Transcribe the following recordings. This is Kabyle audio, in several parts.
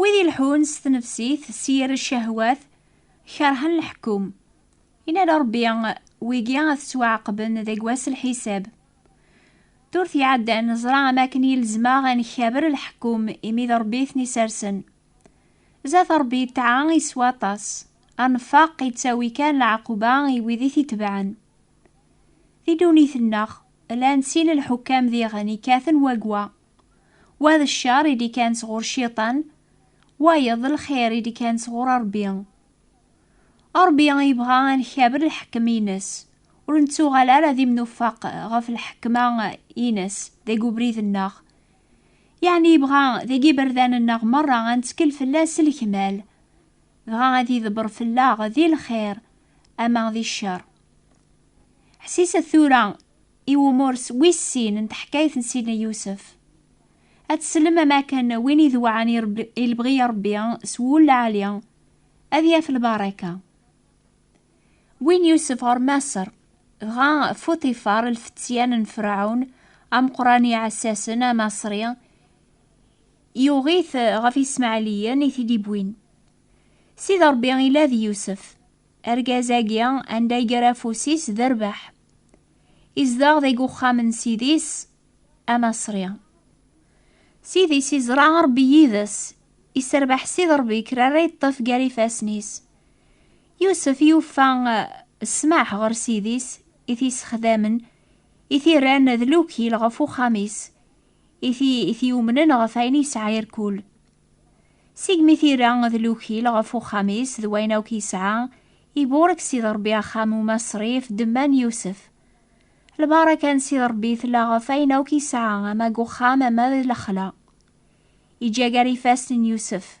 Wid ilḥun s tnefsit s yir cahwat kerhen leḥkum. Inna Ṛebbi wigi ad tettwaɛaqben deg wass lḥisab. Durt iɛeddan neẓra am akken yelzem-aɣ ad nkaber leḥkum imi d Ṛebbi i ten-isersen. Zat Ṛebbi yetɛa i s waṭas. Anfaq yettawi kan lɛaquba i wid i t-itebɛen. Di ddunit-nneɣ, llan sin lḥukkam diɣen ikkaten wagwa. Wa d ccer i d-ikkan sɣur Cciṭan, wayeḍ d lxir i d-ikkan sɣur Ṛebbi. Ṛebbi yebɣa ad nkaber lḥekem-ines, ur nettuɣal ara d imnufaq ɣef lḥekma-ines deg ubrid-nneɣ, Yeɛni yebɣa deg iberdan-nneɣ merra ad nettkel fell-as s lekmal, dɣa ad idebber fell-aɣ di lxir ama di ccer. Ḥsiset tura i wumurs wis sin n teḥkayt n Sidna Yusef. Ad teslem am akken win idewɛen i lebɣi n Rebbi s wul lɛali ad yaf lbaraka. Win Yusef ɣer Maṣer, dɣa Fuṭifar, lfetyan n Ferɛun, ameqran iɛessasen, amaṣri, yuɣ-it ɣef Ismaɛliyen i t-id-iwwin. Sidi Ṛebbi ila d Yusef, argaz-agi anda iger afus-is d rrbeḥ. Izdeɣ deg uxxam n sidi-s amaṣri. Sidi-s iẓra Ṛebbi yid-s, isserbeḥ Sidi Ṛebbi kra ara yeṭṭef gar ifassen-is. Yusef yufa ssmaḥ ɣer ssid-is i t-yessexdamen, i t-irran d lukil ɣef uxxam-is, i t-yumnen ɣef ayen yesɛa irkul. Segmi t-ira d lukil ɣef uxxam-is d wayen akk yesɛa, iburek Sidi Ṛebbi axxam umaṣri ɣef ddemma n Yusef. Lbaraka n Sidi Ṛebbi tella ɣef ayen akk yesɛa, ama deg uxxam ama d lexla. Iǧǧa gar ifassen n Yusef.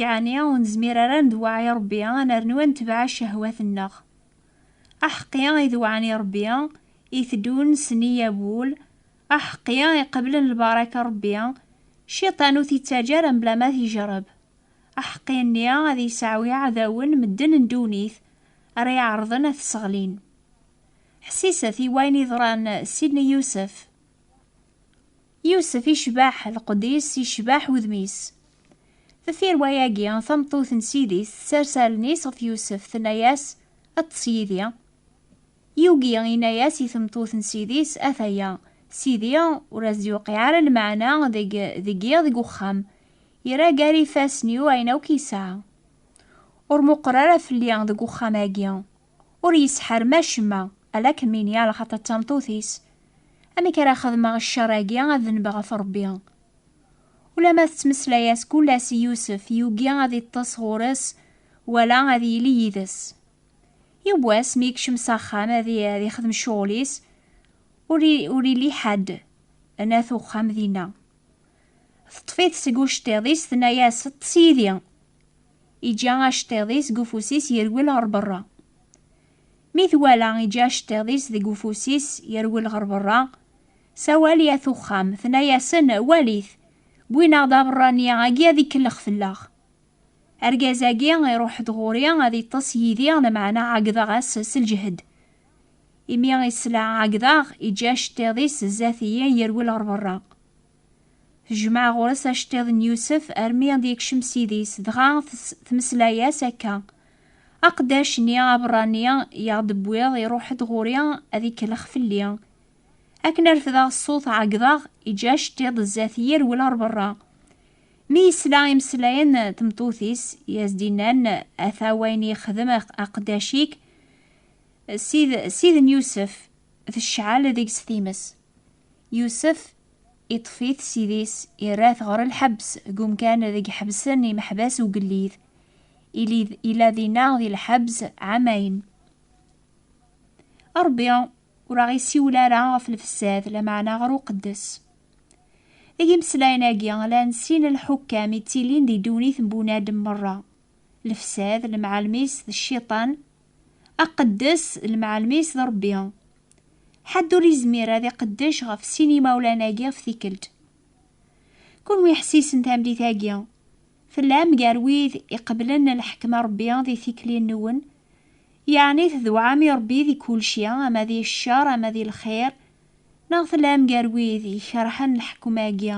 Yeɛni ur nezmir ara ad ndewweɛ i Ṛebbi, ad nernu ad netbeɛ ccehwat-nneɣ. Aḥeqqi i dewɛen i Ṛebbi, iteddun s nneyya n wul, aḥeqqi i qeblen lbaraka n Ṛebbi, Cciṭan ur t-ittaǧǧa ara mebla ma t-ijreb. Aḥeqqi-nni ad yesɛu iɛdawen, medden n ddunit, ara iɛerḍen ad t-sseɣlin. Ḥsiset i wayen yeḍran Sidney Yousef. Yusef icbaḥ lqed-is, icbaḥ wudem-is. Deffir wayagi, tameṭṭut n Sidi-s tessers allen-is ɣef Yusef, tenna-yas, Ṭṭes yid-i. Yugi, yenna-yas i tmeṭṭut n Sidi-s, Ataya, Sidi ur as-d-yuqiɛ ara lmeɛna deg deg-i deg uxxam, yerra gar ifassen-iw ayen akk yesɛa. Ur muqer ara fell-i deg uxxam-agi. Ur yesḥerm acemma, ala kem ini a lxaṭer d tameṭṭut-is. Amek ara xedmeɣ ccer-agi ad dneb ɣef Rebbi? Ulamma tettmeslay-as kul ass i Yusef, yugi ad iṭṭes ɣur-s wala ad yili yid-s. Yiwwas mi yekcem s axxam ad ixdem ccuɣel-is, ur illi ḥadd n at uxxam dinna. Teṭṭef-it seg uceṭṭiḍ-is, tenna-yas, Ṭṭes yid-i! Iǧǧa aceṭṭiḍ-is deg ufus-is yerwel ɣer berra. Mi twala iǧǧa aceṭṭiḍ-is deg ufus-is yerwel ɣer berra, sawal i at uxxam, tenna-yasen, Walit, wwin-aɣ-d aberrani agi ad ikellx fell-aɣ. Argaz-agi iruḥ-d ɣur-i ad iṭṭes yid-i, lameɛna ɛeggdeɣ-as s lǧehd. Imi i sla ɛeggdeɣ, iǧǧa aceṭṭiḍ-is zdat-i yerwel ɣer berra. Tejmeɛ ɣur-s aceṭṭiḍ n Yusef armi ad yekcem s idis, dɣa tmeslay-as akka, Aqeddac-nni aberrani i aɣ-d-tewwiḍ iruḥ-d ɣur-i ad ikellex fell-i. Akken ad refdeɣ ṣṣut ɛeggḍeɣ, iǧǧa aceṭṭiḍ zdat-i irwel ɣer berra. Mi yesla imeslayen n tmeṭṭut-is i as-d-innan, Ata wayen i yexdem aqeddac-ik, Sid n Yusef, tecɛel deg-s times. Yusef iṭṭef-it ssid-is, irra-t ɣer lḥebs, deg umkan deg ḥebsen imeḥbas ugellid. Ila dinna di lḥebs ɛamayen. Ṛebbi ur aɣ-isiwel ara ɣef lfessad, lameɛna ɣer uqeddes. Deg imeslayen-agi, llan sin n lḥukkam i ttilin di ddunit n bunadem meṛṛa, lfessad, lemɛalem-is d cciṭan, Aqeddes, lemɛalem-is d Ṛebbi. Ḥedd ur izmir ad iqeddec ɣef sin yimawlan-agi ɣef tikkelt. Kunwi ḥessisen tamlit-agi. Tellam gar wid iqeblen lḥekma Ṛebbi di tikli-nwen, yeɛni tedwɛam i Ṛebbi di kulci, ama di ccer ama di lxir, neɣ tellam gar wid ikerhen lḥekma-agi,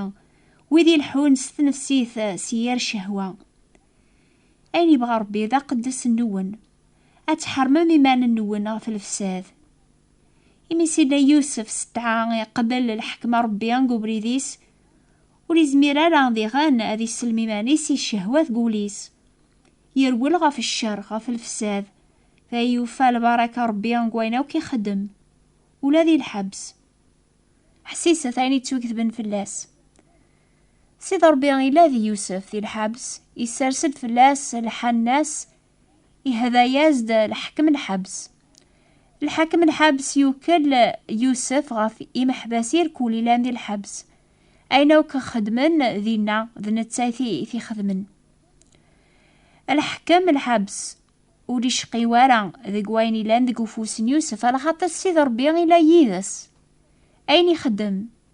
wid ileḥḥun s tnefsit s yir cehwa. Ayen yebɣa Ṛebbi d aqeddes nwen, ad tḥermem iman-nwen ɣef lefsad. Imi Sidna Yusef s ttɛa iqbel lḥekma Ṛebbi deg ubrid-is, ur izmir ara diɣen ad isellem iman-is i ccehwa deg wul-is. Yerwel ɣef ccer, ɣef lefsad, dɣa yufa lbaraka Ṛebbi deg wayen akk ixeddem, ula di lḥebs. Ḥsiset ayen yettwaketben fell-as. Sidi Ṛebbi ila di Yusef di lḥebs, isers-d fell-as lḥanna-s, ihda-yas-d lḥekem n lḥebs. Lḥakem n lḥebs yukel Yusef ɣef imeḥbas irkul ilan di lḥebs. Ayen akk xedmen dinna, d netta i t-ixedmen. Lḥekem n lḥebs ur icqi wara deg wayen ilan deg ufus n Yusef, alaxaṭer Sidi Ṛebbi ila yid-s. Ayen ixeddem,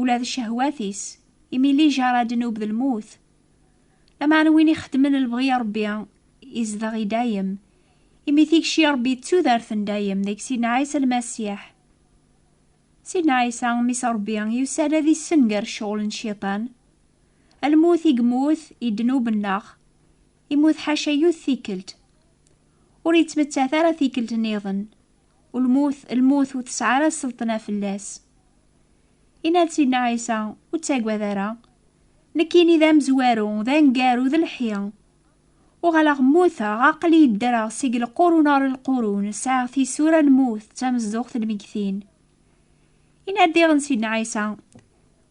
ula d cehwat-is, imi lijar ad nub d lmut. Lameɛna win ixeddmen lebɣi n Rebbi izdeɣ i dayem, imi tikci n Rebbi d tudert n dayem deg Sidna Ɛisa Lmasiḥ. Sidna Ɛisa, Mmi-s n Rebbi, yusa-d ad issenger ccɣel n Cciṭan. Lmut i yemmut i ddnub-nneɣ, immut ḥaca yiwet tikkelt. Ur yettmettat ara tikkelt niḍen, Lmut, lmut ur tesɛi ara sselṭna fell-as. Yenna-d-tinna Ɛisa, Ur ttagad ara. Nekkini d amezwaru, d aneggaru, d lḥi. Uɣaleɣ mmuteɣ, aql-iyi ddreɣ seg lqurun ɣer lqurun, sɛiɣ tisura n lmut, d tamezduɣt n lmegtin. Yenna-d diɣen Sidna Ɛisa,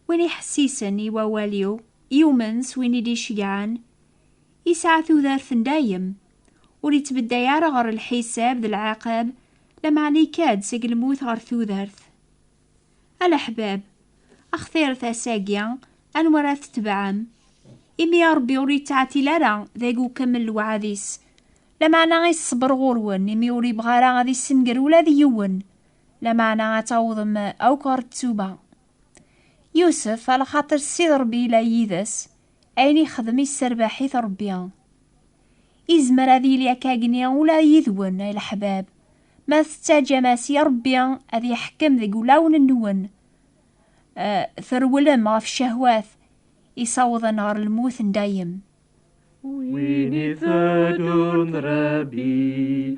Win iḥessisen i wawal-iw, yumen s win i d-iceggɛen, yesɛa tudert n dayem. Ur ittbedday ara ɣer lḥisab d lɛaqab, lameɛna ikka-d seg lmut ɣer tudert. A leḥbab, axtiret ass-agi, anwa ara tetbeɛem? Imi Ṛebbi ur yettɛetil ara, dagi ukemmel lewɛad-is. Lameɛna iṣṣber ɣur-wen, imi ur yebɣi ara ad issenger ula d yiwen, lameɛna ad tawḍem akk ɣer ttuba. Yusef, a lxaṭer Ssid Ṛebbi yella yid-s, Ayen ixdem isserbaḥ-it Rebbi. Izmer ad yili akka gni ula yid-wen ay leḥbab, ma tettaǧǧam-as i Rebbi ad iḥekkem deg wulawen-nwen, trewlem ɣef ccahwat isawḍen ɣer lmut n dayem. Win iteddun d Rebbi.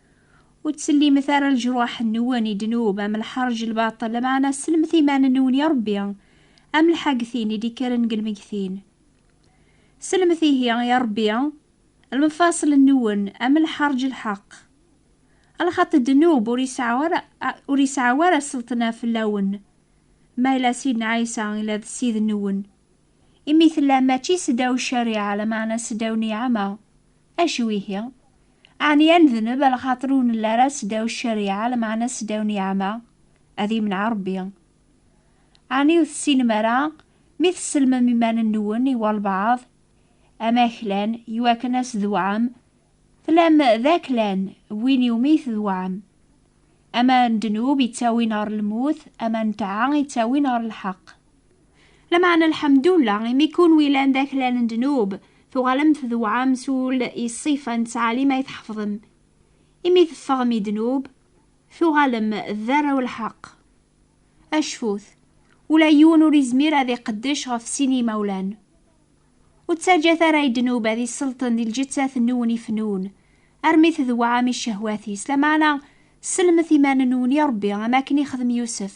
Ur ttsellimet ara leǧruḥ-nwen i ddnub, am lḥerǧ, lbaṭel, lameɛna sellmet iman-nwen i Ṛebbi, am lḥagtin i d-ikkren deg lmeggtin. Sellmet ihi i Ṛebbi lmefaṣel-nwen, am lḥerǧ, lḥeqq. Lxaṭi, ddnub, ur yesɛa ara, ur yesɛa ara sselṭna fell-awen, ma yella Sidna Ɛisa yella d Ssid-nwen. imi tella mačči seddaw ccariɛa, lameɛna seddaw niɛama. Acu ihi? Ɛni ad nedneb lxaṭer ur nelli ara seddaw ccariɛa, lameɛna seddaw niɛama? Ad imneɛ Rebbi. Ɛni ur tessinem ara mi tessellmem iman-nwen i walbeɛḍ, am aklan, iwakken ad s-twɛem? Tellam d aklan, win iwumi twɛem. Ama n ddnub ittawin ɣer lmut, ama n ṭṭaɛa ittawin ɣer lḥeqq. Lameɛna lḥemdullah imi kunwi lan d aklal n ddnub, tuɣalem tdewɛem s ul i ṣṣifa n ttɛalim ay tḥefḍem. Imi teffɣem i ddnub, tuɣalem d arraw n lḥeqq. Acfut, ula yiwen ur izmir ad iqeddec ɣef sin n yimawlan. Ur ttaǧǧat ara i ddnub ad iselṭen di lǧettat-nwen ifennun, armi tdewɛem i ccehwat-is, lameɛna sellmet iman-nwen i Rebbi am akken ixdem Yusef.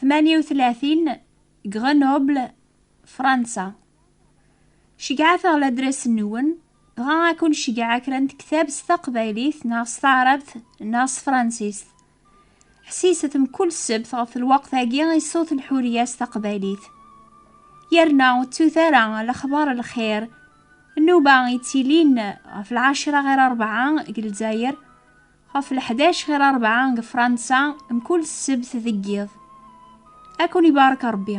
38 Grenoble Fransa Ceggɛet-aɣ ladras-nwen dɣa ad kun-ceggɛeɣ kra n tektab s taqbaylit neɣ s taɛrabt neɣ s tefransist. Ḥsiset mkul ssebt ɣef lweqt-agi i ṣṣut n Ḥuriya s taqbaylit. Yerna ur ttut ara lexbar n lxir nnuba yettilin ɣef lɛecra ɣer rebɛa deg Lezzayer Ɣef leḥdac ɣer rebɛa deg Fransa, mkul ssebt deg yiḍ. Ad ken-ibarek Rebbi.